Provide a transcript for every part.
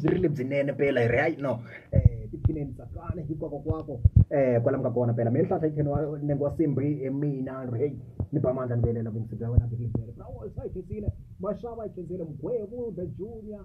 byi ri lebyinene pela hi ri hayi no um tiphineni tsakana hikwako kwako um kwala mi nga kona pela mi ni hlahla yikheni nenge wa simbi hi mina ri heyi ni ba mandla ni velela vuyisi bya wena byi ri lebyinene brawo sa yi khensile maxava yi khensile mugwevu the junior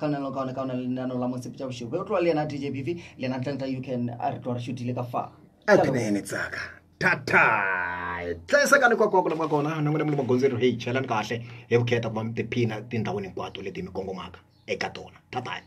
ka lona leo kaone ka ona le lenaneo la motsepe tša bošego be o tloa le yena dj bv le yena tlantla u can a re tloa re šutile ka fa a ke nene tsaka thata tlesa ka nikwakwaku lama kona na n'wina mi le magondzweni heyi chelani kahle hi vukheta ku va mi tiphina tindhawini hinkwato leti mi kongomaka eka tona tatani